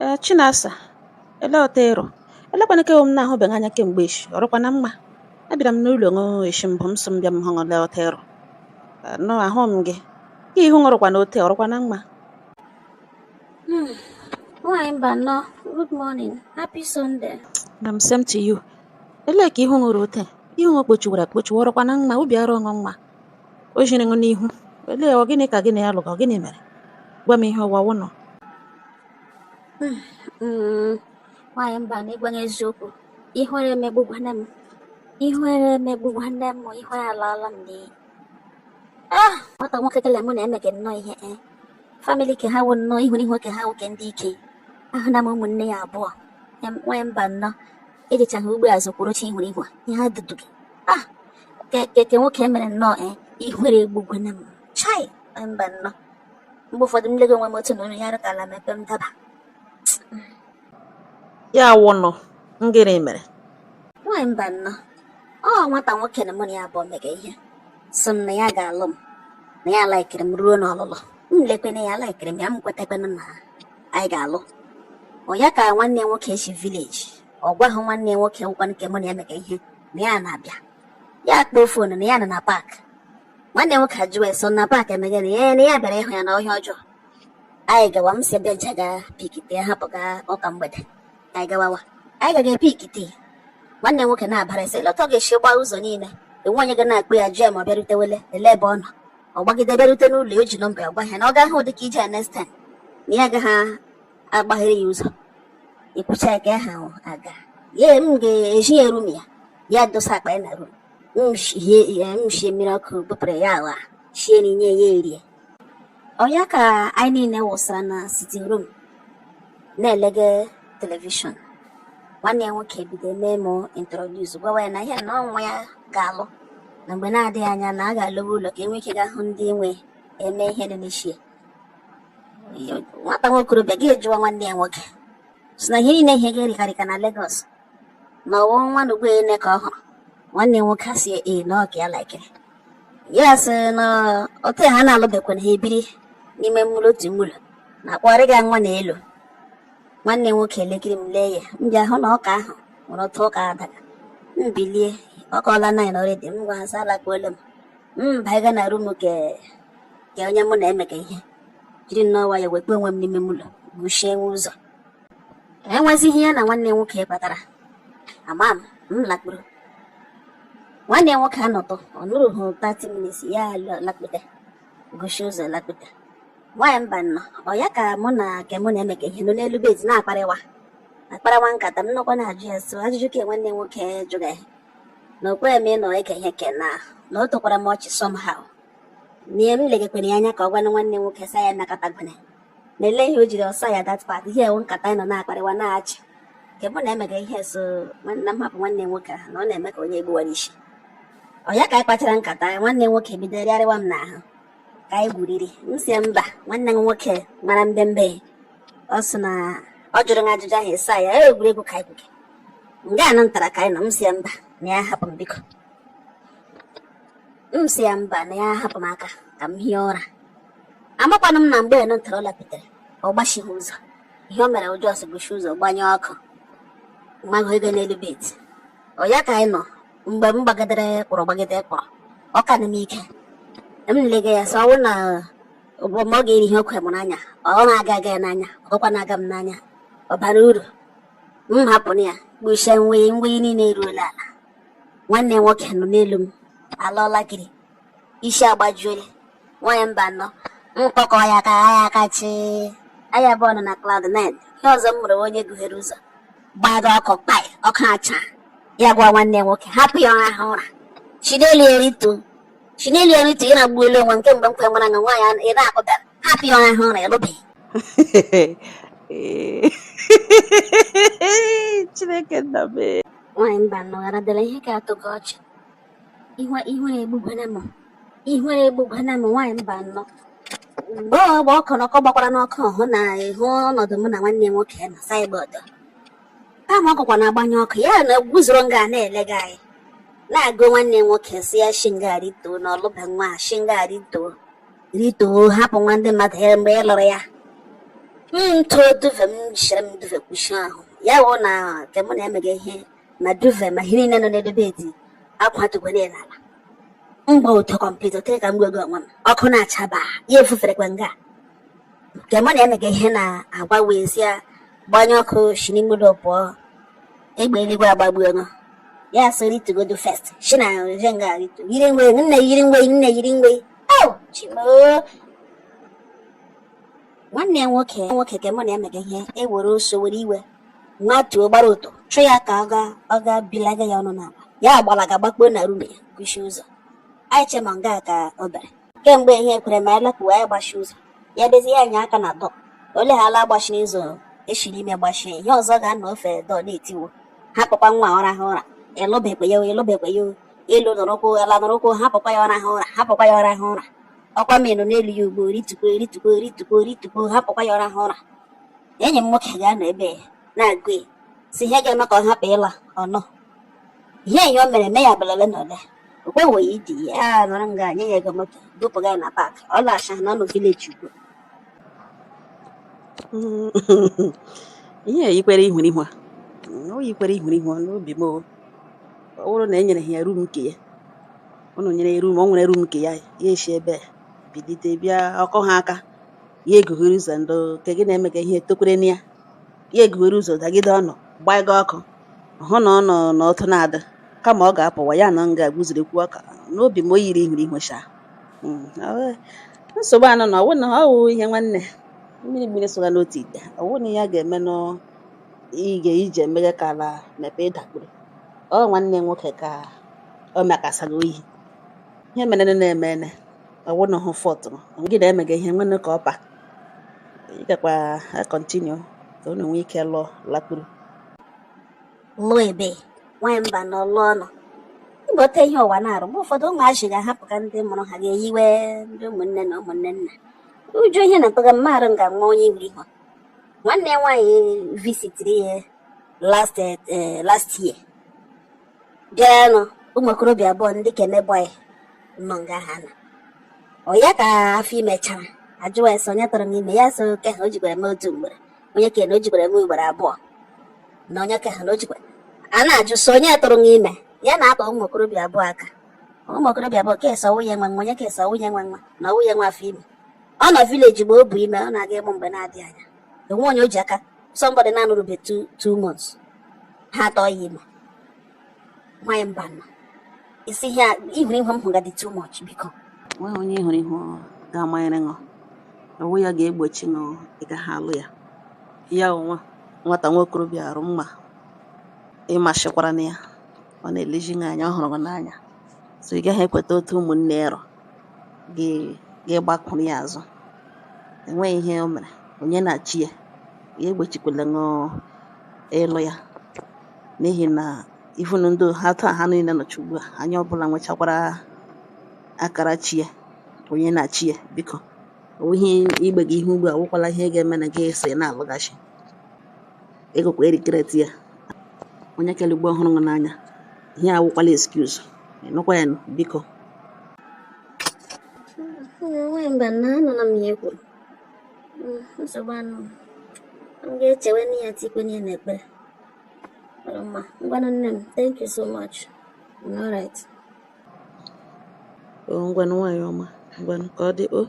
Ee, Chinasa, olee otu ị rụ? Elekwa nke wụ m na-ahụbeghị anya kemgbe echi, ọ rụkwa na mma? Abịara m n'ụlọ ṅụ echi mbụ m sị m bịa m hụ olee otu ị rụ. Nụ ahụ m gị. Ka ihu ṅụ rụkwana ote, ọ rụkwa na mma? Hmm, Nwaanyị Mbano, good morning, happy Sunday. Nne m same to you. Elee ka ihu ṅụ rụ ote? Ihu ṅụ kpochiwara akpochi, ọ rụkwa na mma, obi arụ ṅụ mma. O jiri ṅụ n'ihu. Olee ọ gịnị ka gị na ya lụga, ọ gịnị mere? Gwa m ihe ụwa wụnụ. hmm, nwaanyị Mbano ịgwa ṅụ eziokwu ihere emegbugwana m ihere emegbugwana m ihere alaala m n'iyi ah! nwata nwoke kele mụ na ya mega nnọọ ihe e family ke ha wụ nnọọ ihu n'ihu ke ha nwoke ndị ike ahụna m ụmụnne ya abụọ nwaanyị Mbano ejichaghị ugbo azụ kwuru chi ihu n'ihu ihe ha dudu gị ah! ke ke nwoke mere nnọọ e ihere egbugwana m chai Mbano mgbe ụfọdụ m lego onwe m otu na olu ya rụ ka ala mepee m daba ya wụnụ ngịrị mere nwaanyị Mbano ọ nwata nwoke na mụ na ya abụọ mega ihe sị m na ya ga-alụ m na ya laikiri m ruo n'ọlụlụ m lekwana ya laikiri m ya m kwetakwana na anyị ga-alụ ọ ya ka nwanne nwoke si village ọ gwaghị nwanne nwoke wụkwa nke mụ na ya mega ihe na ya na-abịa ya kpọọ phone na ya nọ na park nwanne nwoke ajụwa ya sị na park emeghe na ya na ya bịara ịhụ ya na ọ ihe ọjọọ anyị gawa m si ebe ncha ga pikite hapụga ụka mgbede anyị gawawa anyị gaga epikite nwanne nwoke na-abara ese lọta ọ ga-esi gbaa ụzọ niile enwe onye ga na-akpọ ya jụọ ya ma ọ bịarutewele elee ebe ọ nọ ọ gbagide bịarute n'ụlọ o ji nọmba ya gwa ya na ọ gaghị ụdị ka ije ya next time na ya agaghị agbaghere ya ụzọ ikwucha ya ka ya ha aga ya m ga-ezi ya room ya ya dosa akpa ya na room m shie mmiri ọkụ bupụrụ ya awụa shie nri nye ya erie ọ ya ka anyị niile wụsara na sitting room na-elege telivishọn nwanne ya nwoke bido mee m introduce gwawa ya na ihe na ọ nwa ya ga-alụ na mgbe na-adịghị anya na a ga-alọwa ụlọ ka e nwee ike ga hụ ndị nwe e mee ihe dị n'ishi e nwata nwa okorobịa ga-ajụwa nwanne ya nwoke sị na ihe niile ihe ga-erikarịka na Lagos na ọ wụ nwa nugbu ene ka ọ hụrụ nwanne nwoke asị ee na ọ ke ya laikiri ya sị na otu ha na-alụbekwana ha ebiri n'ime mụlọ otu mụlọ na-akpọgharịga nwa na elu nwanne nwoke elekiri m lee ya m bịa hụ na ụka ahụ nwere otu ụka adaga m bilie ọ kụọla nine already m gwa ha sị alakpuola m m baiga na room ke onye mụ na ya mega ihe jiri nnọọ nwayọ wekpe onwe m n'ime mụlọ gbachie ụzọ enwezighị ya na nwanne nwoke kpatara ama m m lakpuru nwanne nwoke anọtụ ọ nọruhu 30 minutes ya lakpute guchie ụzọ lakpute nwaanyị mba nnọọ ọ ya ka mụ na nke mụ na-emega ihe nọ n'elu bed na-akparịwa akparawa nkata m nọkwa na-ajụ ya so ajụjụ ka nwanne nwoke jụga ya na okwe m ịnọ eke ihe ke na na o tokwara m ọchị somehow na m legekwere ya anya ka ọ gwana nwanne nwoke sa ya nakọtagwene na ele ihe o jiri ọsa ya that part ihe a wụ nkata anyị nọ na-akparịwa na-achị nke mụ na-emega ihe sị na m hapụ nwanne nwoke ahụ na ọ na-eme ka onye egbuwara isi ọ ya ka anyị kpachara nkata anyị nwanne nwoke bido rịarịwa m n'ahụ ka anyị gwuriri m sị mba nwanne m nwoke mara mbembe ọ sị na ọ jụrụ m ajụjụ ahụ ị sa ya egwuregwu ka anyị gwuge nga anụ ntara ka anyị nọ m sị mba na ya hapụ m biko m sị ya mba na ya hapụ m aka ka m hie ụra amakwanụ m na mgbe anụ ntara lakputere ọ gbachighị ụzọ ihe o mere wụ just guchi ụzọ gbanyụ ọkụ mago n'elu bed ọ ya ka anyị nọ mgbe m gbagidere kpọrọ gbagide kpọrọ ọ kanụ m ike m lega ya sị ọ wụ na ụgbọ ma ọ ga-eri ihe okwe m n'anya ọ na-aga aga ya n'anya ọkwa na-aga m n'anya ọ bara uru m hapụrụ ya gbuchie nwe niile eruola ala nwanne nwoke nọ n'elu m alọọla gịrị isi agbajuole nwaanyị mba nnọọ m kpọkọ ya aka ha ya kachi anya abụọ nọ na cloud 9 ihe ọzọ mere wụ onye gughere ụzọ gbaga ọkụ kpai ọkụ acha ya gwa nwanne nwoke hapụ ya ọ raha ụra shi n'elu ya rituo shi n'elu ya rituo ị na-agbuelu onwe nke mgbe m kwe nwara na nwaanyị ị na-akpụbara hapụ ya ọ raha ụra ị lụbeghị chineke nna m nwaanyị mba nọgharadịla ihe ka atọ gị ọchị ihu ihu egbugwana m ihu egbugwana m nwaanyị mba nnọọ mgbe ọ gba ọkụ na ọkụ gbakwara n'ọkụ hụ na ị hụ ọnọdụ mụ na nwanne m nwoke na saịbọọdụ kama ọ gụkwa na-agbanyụ ọkụ ya na guzoro nga na-elega anyị na-agwa nwanne m nwoke sị ya shi nga rituo na ọ lụba nwa shi nga rituo rituo hapụ nwa ndị mmadụ ya mgbe ị lụrụ ya m too duvet m jichere m duvet kpuchie ahụ ya wụ na nke mụ na-emega ihe ma duvet ma ihe niile nọ n'ebe bed akwatugwe niile n'ala m gba ọtọ complete tere ka m gwa gị onwe m ọkụ na-achaba ya efuferekwa nga nke mụ na-emega ihe na-agwa wee sị ya gbanyụ ọkụ si n'ime ụlọ pụọ egbe eluigwe agbagbuo nụ ya sị ritugodu first si na nje nga ritu yiri nwe nne yiri nwe nne yiri nwe au chi m oo nwanne nwoke ka mụ na emega ihe ewere oso were iwe matuo gbara ọtọ chụ ya ka ọ ga bilaga ya ọnụ n'ala ya agbalaga gbakpuo na rum ya kwuchie ụzọ anyị che ma nga ka o bere kemgbe ihe ekwere ma anyị lapụwa ya gbachi ụzọ ya dezie ya anya aka na dọ oleghara agbachi ụzọ eshi n'ime gbachie ihe ọzọ ga-anọ ofe dọ na-etiwo hapụkwa nwa ọ raha ụra ịlụbekwe ya ịlụbekwe ya elu nọrọkwụ ala nọrọkwụ hapụkwa ya ọ raha ụra hapụkwa ya ọ raha ụra ọkwa menụ n'elu ya ugbo rituo rituo rituo rituo hapụkwa ya ọ raha ụra enyi m nwoke ga-anọ ebe ya na-agụ ya si ihe ga-eme ka ọ hapụ ịla ọnụ ihe enyi o mere mee ya belele na ole okwewo ya idi ya nọrọ nga nye ya ego moto dupụga ya na paakị ọ lacha na ọnụ vileji ugbo ihe yikwere ihurihu a o yikwere ihurihu n'obi m o ọ bụrụ na e nyere ha ya rum nke ya ụnụ nyere ya rum o nwere rum nke ya ya esi ebe a bilite bịa ọkụ ha aka ya egughere ụzọ ndị nke gị na-emega ihe tokwere na ya ya egughere ụzọ dagide ụnụ gbaiga ọkụ hụ na ọ nọ n'ọtụ na-adị kama ọ ga-apụwa ya na nga guziri kwuo ọka n'obi m o yiri ihurihu cha nsogbu anọ na ọwụ na ọ wụ ihe nwanne mmiri soga n'otu ite ọwụ na ihe a ga-eme nụ ị ga ije eme gị ka ala mepee ị dakpuru ọ nwanne nwoke ka o mekasara oyi ihe mere na eme ene ọwụ na hụ fọtụrụ gị na emega ihe nwanne ka ọpa ị gakwa akọntinu ka unu nwee ike lụọ lakpuru lụọ ebe nwanyị mba na ọlụ ọnụ ịgbọta ihe ụwa na-arụ mgbe ụfọdụ ụmụazị ga-ahapụ ka ndị mụrụ ha ga-eyiwe ndị ụmụnne na ụmụnne nna ụjọ ihe na-atụga mmadụ nga nwa onye ihurihu nwanne ya nwaanyị visitiri ya last year bịanụ ụmụ okorobịa abụọ ndị ka eme bọị nọ nga ha na ọ ya ka afọ ime chara a jụwa sị onye tụrụ m ime ya so oke ha o jikwara m otu mgbere onye ka na o jikwara m ugboro abụọ na onye ka ha na o jikwara a na-ajụ so onye tụrụ m ime ya na-akpa ụmụ okorobịa abụọ aka ụmụ okorobịa abụọ kesa nwunye nwa nwa onye kesa nwunye nwa nwa na nwunye nwa afọ ime ọ nọ vileji mgbe o bu ime ọ na-aga ịmụ mgbe na-adịghị anya enwe onye o ji aka somebody na-anọrube two months ha atụọ ya ime nwanyị mba nọ isi ihe ihurihu m hụga dị too much biko nweghị onye ihurihu ga-amanyere ṅụ ọwụ ya ga-egbochi ṅụ ị gaghị alụ ya ya onwe nwata nwa okorobịa a rị mma ị masịkwara na ya ọ na-elezi gị anya ọ hụrụ gị n'anya so ị gaghị ekweta otu ụmụnne ya rọ gị gbakwuru ya azụ enweghị ihe o mere onye na chi ya ya egbochikwala ṅụ ịlụ ya n'ihi na even ndị ha taa ha niile nọcha ugbu a onye ọbụla nwechakwara akara chi ya onye na chi ya biko onweghị igbe gị ihe ugbu a awụkwala ihe ga-eme na gị esi na-alụghachi egokwa erikreti ya onye kere ugbo ọ hụrụ ṅụ n'anya ihe awụkwala excuse ị nụkwa ya nụ, biko nwaanyị mba na anụla m ihe i kwuru hmm, nsogbu anọọ m ga-echewenụ ya tikwenụ ya na ekpere mma ngwanụ nne m thank you so much all right oh, ngwanụ nwaanyị ọma ngwanụ ka ọ dị o oh.